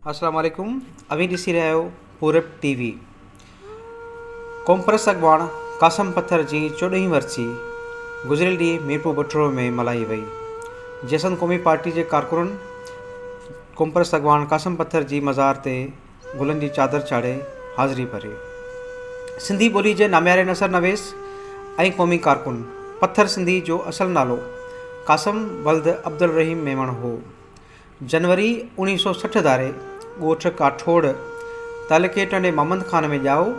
السلام عليڪم اوهين ڏسي رهيا آهيو پورب ٽي وي قومپرست اڳواڻ قاسم پٿر جي چوڏهين ورسي گذريل ڏينهن ميرپور بٺڙو ۾ ملهائي وئي جيسن قومي پارٽي جي ڪارڪنن قومپرست اڳواڻ قاسم پٿر جي مزار تي گلن جي چادر چاڙهي حاضري ڀري. سنڌي ٻولي جي نامياري نثر نويس ۽ قومي ڪارڪن پٿر سنڌي جو اصل نالو قاسم ولد عبدالرحيم ميمڻ هو. جنوري اوڻيهه سؤ سٺ ڌاري ڳوٺ ڪاٺوڙ تعلقي ٽنڊي محمد خان ۾ ڄائو،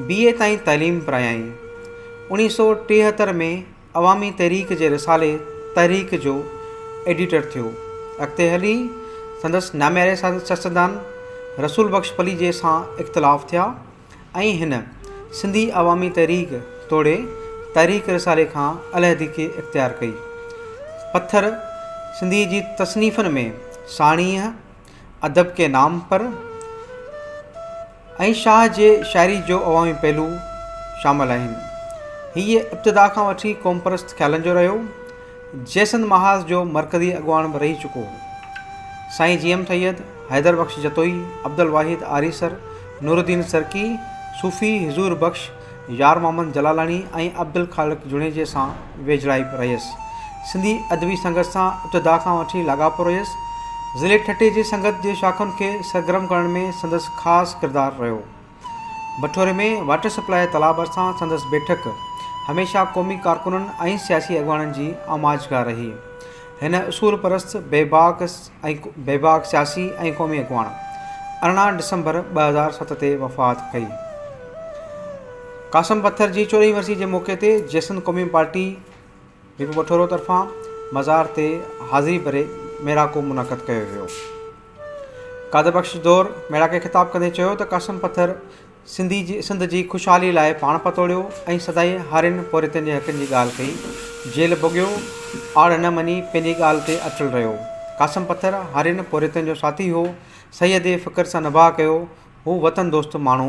بي اي تائين تعليم پرايائين. اوڻيهه سؤ ٽيهتر ۾ عوامي تحريڪ جي رسالي تحريڪ جو ايڊيٽر ٿيو. اڳتي هلي سندس نامياري سياستدان رسول بخش پليجي سان اختلاف ٿيا ۽ هن سنڌي عوامي تحريڪ توڙي تحريڪ رسالي کان علحدگي اختيار ڪئي. پٿر سنڌيء جي تصنيفن ۾ ساڻيهه، ادب ڪي نام پر ۽ شاهه جي شاعري جو عوامي پهلو شامل آهن. هيء ابتدا کان وٺي قومپرست خيالن جو رهيو. جيسنڌ محاذ جو مرڪزي اڳواڻ به رهي چڪو هو. سائين جي ايم سيد، حيدر بخش جتوئي، عبدالواحد آريسر، نورالدين سرڪي، صوفي حضور بخش، يار محمد جلالاڻي ۽ عبدالخالق جوڻيجي سان ويجهڙائي رهيس. سنڌي ادبي سنگت سان ابتدا کان وٺي لاڳاپو رهيس. ضلعي ٺٽي جي سنگت جي شاخن کي سرگرم ڪرڻ ۾ سندس خاص ڪردار رهيو. بٺوري ۾ واٽر سپلاء تالاب ڀرسان سندس بيٺڪ هميشه قومي ڪارڪنن ۽ سياسي اڳواڻن جي آماجگاهه رهي. هن اصول پرست، بيباڪ، ۽ بيباڪ سياسي ۽ قومي اڳواڻ ارڙهن ڊسمبر ٻه هزار ست تي وفات ڪئي. قاسم پٿر جي چورهين ورسي جي موقعي تي جي سنڌ قومي پارٽي ريپو بٺورو طرفان مزار تي حاضري ڀري ميڙاڪو منعقد ڪيو ويو. قادر بخش دور ميڙاڪي کي خطاب ڪندي چيو ته قاسم پٿر سنڌي جي سنڌ جي خوشحالي لاء پاڻ پتوڙيو ۽ سدائين هارين پورهيتن جي حقن جي ڳالهه ڪئي جيل ڀوڳيو آڙ نه مڃي پنهنجي ڳالهه تي اٽل رهيو قاسم پٿر هارين پورهيتن جو ساٿي هو سيد فڪر سان نباهه ڪيو هو وطن دوست ماڻهو